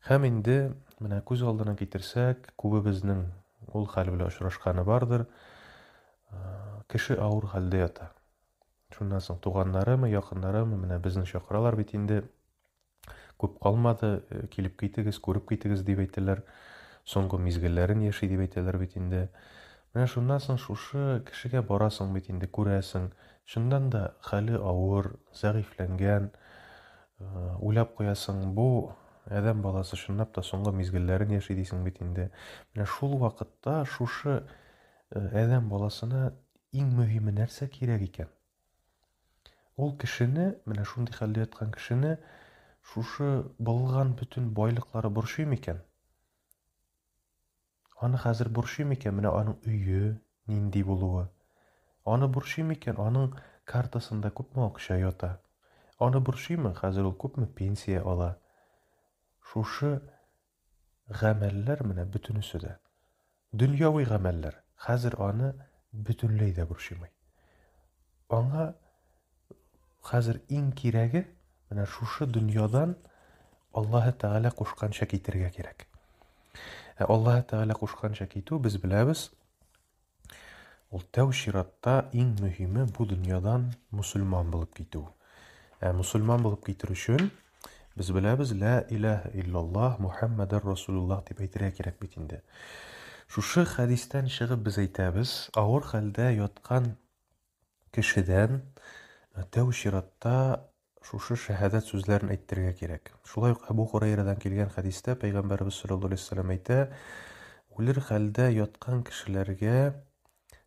Һәм инде, менә күз алдына китерсәк, күбебезнең ул хәл белән очрашканы бардыр. Кеше авыр хәлдә ята. Шуннан соң туганнарымы, якыннарымы, менә безне чакыралар бит инде. Күп калмады, э, килеп китегез, күреп китегез дип әйтәләр. Соңгы мизгелләрен яши дип әйтәләр бит инде. Менә шуннан соң шушы кешегә барасың бит инде, күрәсең. Чыннан да хәле авыр, зәгыйфьләнгән, Уйлап куясың, бу адәм баласы чынлап та соңгы мизгелләрен яши дисең бит инде. Менә шул вакытта шушы адәм баласына иң мөһиме нәрсә кирәк икән? Ул кешене, менә шундый хәлдә яткан кешене шушы былган бөтен байлыклары борчый микән? Аны хәзер борчый микән менә аның өе нинди булуы? Аны борчый микән аның картасында күпме акча ята? Аны борчыймы хәзер ул күпме пенсия ала? Шушы гамәлләр менә бөтенесе дә. Дөньяви гамәлләр. Хәзер аны бөтенләй дә борчымый. Аңа Хәзер иң кирәге, менә шушы дөньядан Аллаһы Тәгалә кушканча китергә кирәк. Ә Аллаһы Тәгалә кушканча китү без беләбез, ул тәү чиратта иң мөһиме бу дөньядан мусульман булып китү. Ә мусульман булып китер өчен без беләбез лә илаһ иллаллаһ Мухаммадар Расулуллаһ дип әйтергә кирәк бит инде. Шушы хәдистән чыгып без әйтәбез, авыр хәлдә яткан кешедән тәү чиратта шушы шәһәдәт сүзләрен әйттерергә кирәк. Шулай ук Әбу Хурайрадан килгән хәдистә пәйгамбәрбез саллаллаһу алейһи вәсәлләм әйтә, үлер хәлдә яткан кешеләргә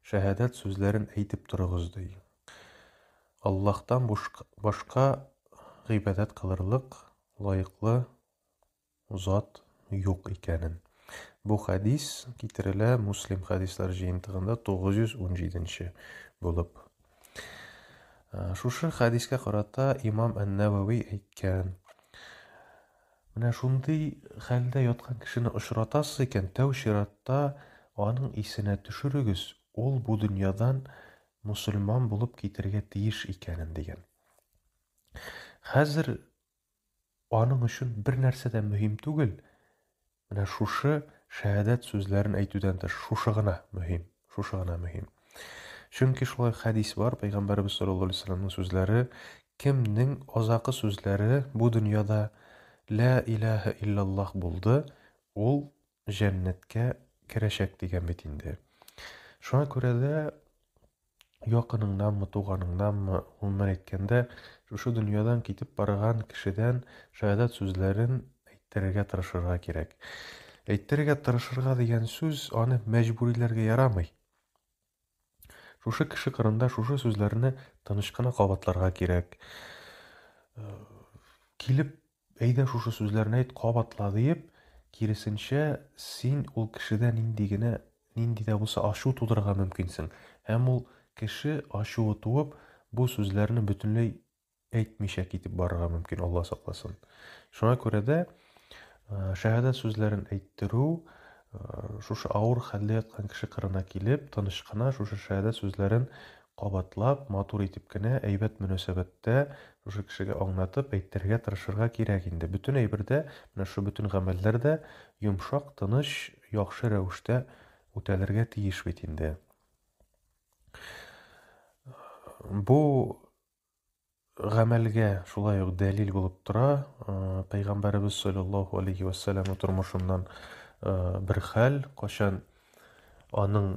шәһәдәт сүзләрен әйтеп торыгыз ди. Аллаһтан башка гыйбадәт кылырлык лаеклы зат юк икәнен. Бу хәдис китерелә Муслим хәдисләр җыентыгында 917-нче булып. Э, шушы хәдискә карата имам Ән-Нәвәви әйткән. Менә шундый хәлдә яткан кешене очратасыз икән, тәү чиратта аның исенә төшерегез, ул бу дөньядан мусульман булып китергә тиеш икәнен дигән. Хәзер Аның өчен бернәрсә дә мөһим түгел. Менә шушы шәһадәт сүзләрен әйтүдән тыш, шушы гына мөһим, шушы гына мөһим. Чөнки шулай хәдис бар, Пәйгамбәрбез саллаллаһу алейһи вәсәлләмнең сүзләре, кемнең азакы сүзләре бу дөньяда ла илаһа иллаллаһ булды, ул җәннәткә керәчәк дигән бит инде. Шуңа күрә дә якыныңнанмы, туганыңнанмы, гомумән әйткәндә, шушы дөньядан китеп барган кешедән шаһадат сүзләрен әйттерергә тырышырга кирәк. Әйттерергә тырышырга дигән сүз аны мәҗбүриләргә ярамый. Шушы кеше кырында шушы сүзләрне тыныч кына кабатларга кирәк. Э, килеп, әйдә шушы сүзләрне әйт, кабатла диеп, киресенчә, син ул кешедә нинди генә, нинди дә булса ачу тудырырга мөмкинсең. Һәм ул кеше ачуы туып, бу сүзләрне бөтенләй әйтмичә китеп барырга мөмкин, Алла сакласын. Шуңа күрә дә шәһәдәт сүзләрен әйттерү шушы авыр хәлдә яткан кеше кырына килеп, тыныч кына шушы шәһәдәт сүзләрен кабатлап, матур итеп кенә, әйбәт мөнәсәбәттә шушы кешегә аңлатып әйттерергә тырышырга кирәк инде. Бөтен әйбер дә, менә шушы бөтен гамәлләр дә йомшак, тыныч, яхшы рәвештә үтәлергә тиеш бит инде. Бу гамәлгә шулай ук дәлил булып тора. Пәйгамбәребез саллаллаһу алейхи ва саллям тормышыннан бер хәл, качан аның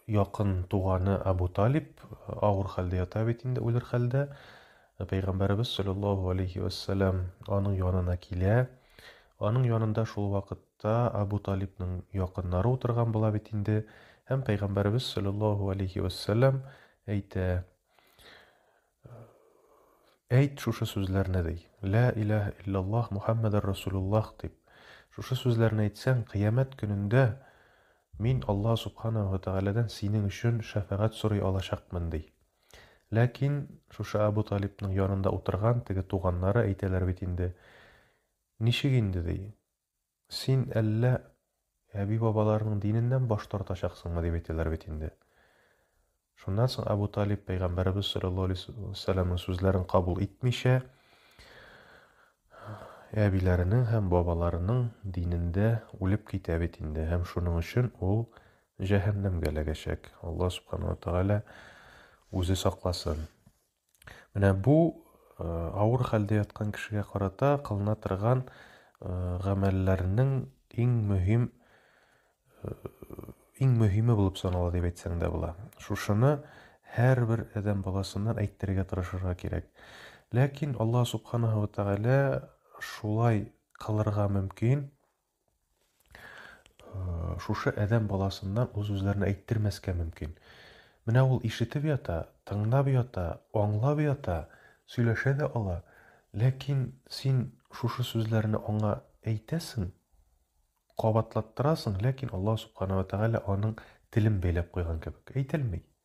якын туганы Абу Талиб авыр хәлдә ята бит инде, үлер хәлдә. Ә Пәйгамбәребез салләллаһу галәйһи вә сәлам аның янына килә. Аның янында шул вакытта Абу Талибның якыннары утырган була бит инде. Һәм Пәйгамбәребез салләллаһу галәйһи вә сәлам әйтә, Әйт шушы сүзләрне, ди, Лә иләһә илләллаһ Мухәммәдәр Расулуллаһ дип. Шушы сүзләрне әйтсәң, Кыямәт көнендә мин Аллаһ Субханаһу ва Тәгаләдән синең өчен шәфәгать сорый алачакмын, ди. Ләкин шушы Әбү Талибның янында утырган теге туганнары әйтәләр бит инде, Ничек инде, ди, син әллә әби-бабаларының диненнән баш тартачаксыңмы, дип әйтәләр бит инде. Шуннан соң Әбү Талиб пәйгамбәребез саллаллаһу алейһи ва сәлламның сүзләрен кабул итмичә, әбиләренең һәм бабаларының динендә үлеп китә бит инде һәм шуның өчен ул җәһәннәмгә эләгәчәк. Алла субхана ва тәгалә үзе сакласын. Менә бу э, авыр хәлдә яткан кешегә карата кылына торган э, гамәлләрнең иң мөһим э, иң мөһиме булып санала дип әйтсәң дә була. Шушыны һәрбер адәм баласыннан әйттерергә тырышырга кирәк. Ләкин Алла субханаһу ва тәгалә шулай кылырга мөмкин, Шушы әдәм баласыннан үз-үзләренә әйттермәскә мөмкин. Менә ул ишетеп ята, тыңлап ята, аңлап ята, сөйләшә дә ала. Ләкин син шушы сүзләрне аңа әйтәсең, кабатлаттырасың, ләкин Аллаһ Субхана ва Тәгалә аның телен бәйләп куйган кебек. Әйтелми.